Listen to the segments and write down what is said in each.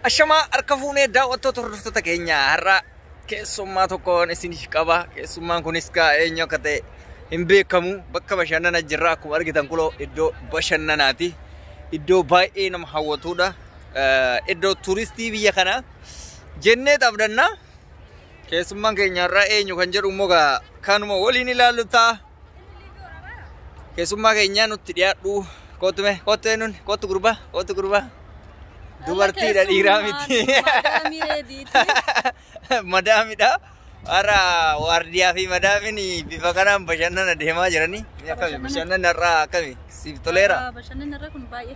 Ashamaa harka fuunee daawwattoota hordoftoota keenya har'a keessummaa tokkoon isiniif qaba. Keessummaan kunis kaa eenyu akka ta'e hin beekamu. Bakka bashannana jirra akkuma argitan kuloo iddoo bashannanaati. Iddoo baay'ee nama hawwatudha. Eh, Iddoo turistii biyya kanaa jennee taphdanna. Keessummaan keenya har'a eenyu kan jedhu immoo gaa kanuma waliin ilaallu ta'a. Keessummaa keenyaa nutti dhiyaadhu. Kootu mee kootu eenyuun kootu gurbaa kootu gurbaa. Dubartiidha dhiiraa miti. Madaamidha. Har'a waardiyaa fi madaamin bifa kanaan bashannana deemaa jiranii. Akkami bashannanni har'a akkami siif toleera. Bashannanni irra kun baay'ee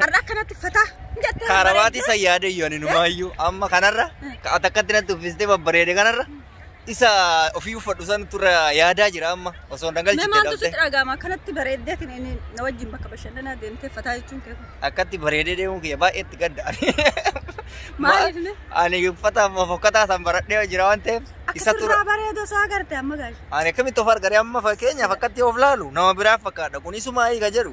Har'a akkanatti fataa hin jettee Kaarabaatii san yaada iyyuu ani numaayyuu amma kanarra ka- ati akkatti natti uffistee babbareede kanarra isa ofii uffadhu san turra yaadaa jira amma osoo hin Mee dhagalchite maaltu dhabde sitti dhaga'ama akkanatti bareeddee kan inni na wajjin bakka bashannanaa deemtee fataa jechuun kee kun. akkatti bareedee deemuun kiyya baay'ee itti gadda ani. Maaliif ne? Ani uffata amma fokkataa san baradhee jira waan ta'eef isa Akka tura. turraa bareedu osoo agarte amma gaashe. Ani akkamitti of argare amma fakkeenyaaf akkatti of laalu nama biraa fakkaadha kunisuma hiika jedhu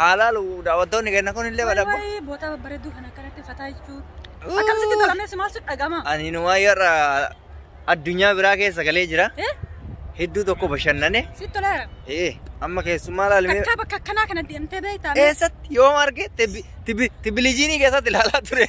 haa laalu daawwattoonni kenna kun illee badhabba. Waayii bootaa babbareedduu kana akkanatti fataa jechuun. Akkamitti tolameessi maal sitti dhagama? Ani inumaa yerra addunyaa biraa keessa galee jira. Eh? Hedduu tokko bashannane. Sitti toleera. Ee amma keessummaa laalimee. Takkaa bakka akkanaa kana deemtee beektaa? Eessatti yoom arge tibbilijiinii keessatti ilaalaa ture.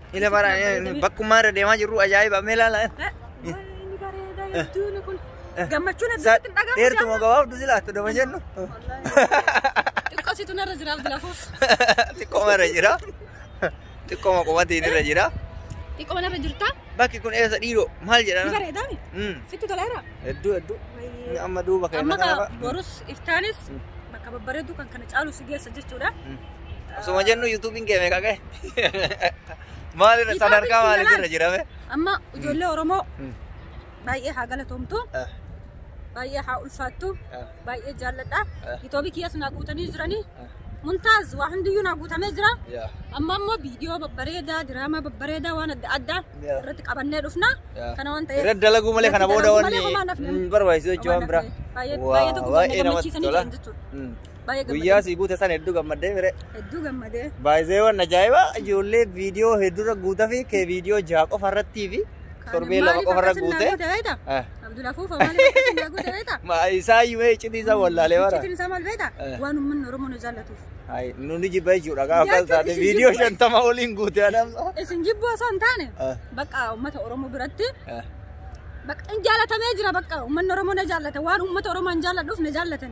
Ila bara bakkummaa irra deemaa jirru ajaa'iba mee ilaala. Inni bareeda hedduun kun. Gammachuun Isaa hedduutti hin dhagahamu. dheertuma gabaabdu si laattu dama jennu. Xiqqoositu narra jiraaf lafuuf. Xiqqooma irra jira. Xiqqooma qomatiin irra jira. Xiqqoo narra jirta. Bakki kun eessa dhiiroo maal Ni jedhana? bareedaa mi? Mm, Sitti toleera. Hedduu hedduu. Inni Amma duuba Amma keenya kaa kanarra. borus iftaanis bakka babbareedu kan kana caalu si geessa jechuudha. Mm. Osuma jennu yuutuubiin kee meeqa ga'e? Maalirra sadarkaa maaliitirra jirame? Amma ijoollee Oromoo baay'ee haa galatoomtu. Baay'ee haa ulfaattu. Baay'ee jaalladha. Yuutuubii kiyyaas naa guutanii jiranii. Muntaaz waa hundiyyuu naa guutamee jira. Amma immoo viidiyoo babbareedaa, diraamaa babbareedaa waan adda addaa irratti qabannee dhufna. Kana waan ta'eef. Irratti dalaguu malee kana booda wanni barbaachisu jechuun waan biraa. Baay'ee tokko baay'ee namatti tola. Baay'ee Guyyaa gammadee. sii guute san hedduu gammaddee mire. Hedduu gammadee. Baay'iseewwan ajaa'ibaa ijoollee viidiyoo hedduurra guutaa fi kee viidiyoo jaha qofa irrattii fi torbee lama qofa irra guute. Eh, Abdul Afuuf maaliif akkasii naa guute beekta? ma- Isaa himee iccitii isaa wallaalee bara. Iccitiin isaa maal beekta? Eh. Waan uummanni Oromoo nu jaallatuuf. Hayi, Nuni jibba jechuudha gaafa akkas Jechuun taate isin viidiyoo jibba. shantama oliin guute adam. Isin jibbuu osoo hin taane Eh, bakka uummata Oromoo biratti eh. bakka hin jaalatamee jira bakka uummanni Oromoo na jaallata waan uummata Oromoo hin jaalladhuuf na jaallatan.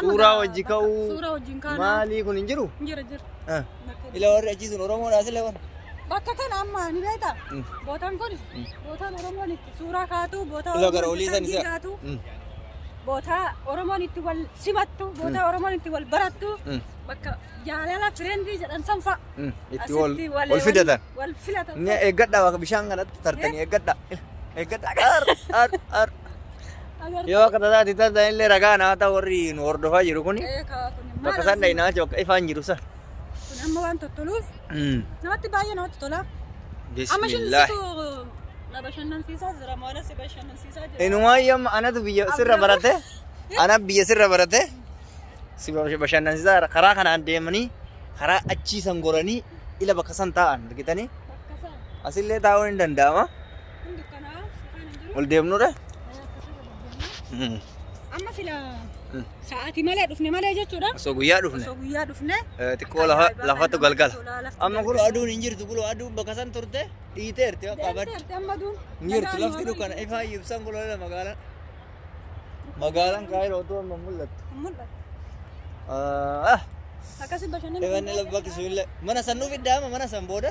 Suuraa wajji ka'uu. Suuraa wajjin kaanaa. Maalii kun hin jiru? Jira jira. Ah. Ila warri achii sun Oromoodhaa sila warri. Bakka kana amma ni beektaa? Mm. Bootaan kun Mm. bootaan Oromoon itti suuraa kaatu, bootaa Ila gara Oromoon olii itti san isa. kaatu, Mm. bootaa Oromoon itti wal simattu, bootaa Oromoon itti wal barattu, Mm. bakka jaalala fireendii jedhan san fa'a. Mm. Itti wal Asitti wal- wal fidatan. Wal filatan. Ni eeggadhaa bakka bishaan kanatti tartanii eeggadhaa. Eeggadhaa. Ar ar ar. Yoo akka tasaa itti tasaa illee ragaa naa ta'u warri nu hordofaa jiru kuni bakka isaan dhahinaa jechuun bakka ifaan jiru san. Kun amma waan tottoluuf namatti baay'ee namatti tola. Amma isheen Bismillah. situ na bashannansiisaa jira maala si bashannansiisaa jira. Inumaayyuu amma anatu biyya sirra barate ana biyya sirra barate si bashannansiisaa karaa kanaan deemanii karaa achii san goranii ila bakka san taa'an argitanii Bakka isaa. asillee taa'uun hin danda'ama. ol deemnudha. Mm. Amma sila Mm. sa'aatii malee dhufne malee jechuudha. Osoo guyyaa dhufne Osoo guyyaa dhufne eh, xiqqoo lafa lafatu galgala. Amma kun aduun hin jirtu kun aduun bakka san turte dhiiteerti bakka abad. Deemteerti amma duun. Hin jirtu lafti dukkana ifaa ibsan kun lola magaalaan. Magaalaan kaayiroo otoo amma mul'attu. Mul'atu. Ah, Akkasii bashannanni. Evanni labbaa kisuun mana san nuuf iddaama mana san booda.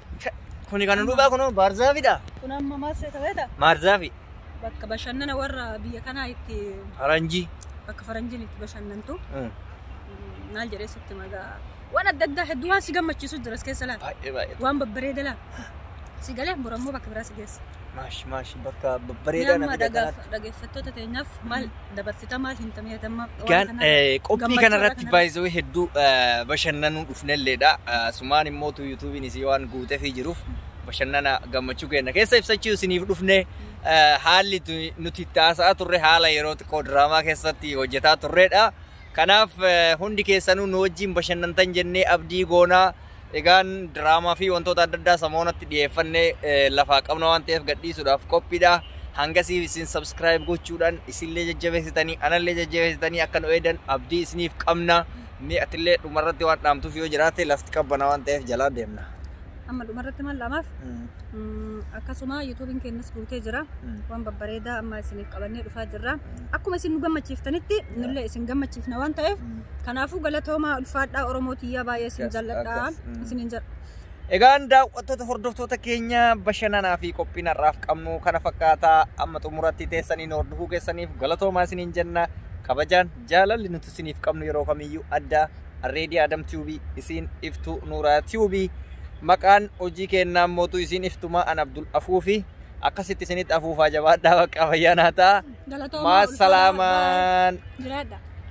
Kuni kan dhugaa kun baarzaafidha. Kun amma maal seeta beeta? Maarzaafi. Bakka bashannana warra biyya kanaa itti Faranjii. bakka faranjiin itti bashannantu. Mm. Maal jedhee sitti magaa. Waan adda addaa hedduu waan si gammachiisu jira as keessa laata. Baay'ee baay'ee. Waan babbareeda laata. Si galee borammoo bakka biraa si geessa. Maash maash bakka bareedaa Amma namni dhagaaf kanatti. dhaggeeffattoota teenyaaf maal dabarsita maal himta miidhagummaa waan Egaan kanaa eh, qophii gammachuu kana irraa irratti kana baay'isuu hedduu eh, bashannanuu dhufnelleedha. Eh, Sumaan immoo tu yuutuubiin isii waan guutefii jiruuf bashannana gammachuu keenya keessa ibsachuu isiniif dhufne eh, haalli tu- nuti itti haasa'aa turre haala yeroo xiqqoo diraamaa keessatti hojjetaa turreedha. Kanaaf eh, hundi keessanuu nu wajjin bashannantan jennee abdii goonaa Egaan diraamaa fi wantoota adda addaa samoonatti dhiyeeffanne lafaa qabna waan ta'eef gadhiisuudhaaf qophiidha. Hangasiif isin subscribe gochuudhaan isinillee jajjabeessitanii anallee jajjabeessitanii akka nu eedan abdii isiniif qabna. Mee atillee dhumarratti waan dhaamtuuf yoo jiraate lafti qabbana waan ta'eef jalaa deemna. Amma dhumarratti maal dhaamaaf? Mm, akkasuma yuutuubiin keenyas guutee jira Mm. waan babbareedaa amma isiniif qabannee dhufaa jirra akkuma isin nu gammachiiftanitti nullee isin gammachiifna waan ta'eef Mm. kanaafuu galatoomaa ulfaadhaa oromoo tiyyaa baay'ee isin Akkas, jalladhaa akkas, mm. isinin jal Egaan daawwattoota hordoftoota keenya bashannanaa fi qophiin har'aaf qabnu kana fakkaata amma xumuratti teessaniin hordofuu keessaniif galatoomaa isiniin jenna kabajaan jaalalli nuti isiniif qabnu yeroo kamiyyuu adda Arreedii Adam Tube isiin iftuu Nuuraa Tube maqaan hojii kennaan mootuu isiin iftumaa an Abdul Afuufi akkasitti isinitti afuufaa jabaadhaa baqqaa fayyaa naa ta'a. Galatoomaa Maa ulfaadhaa, salaamaan. bye. Jiraadha.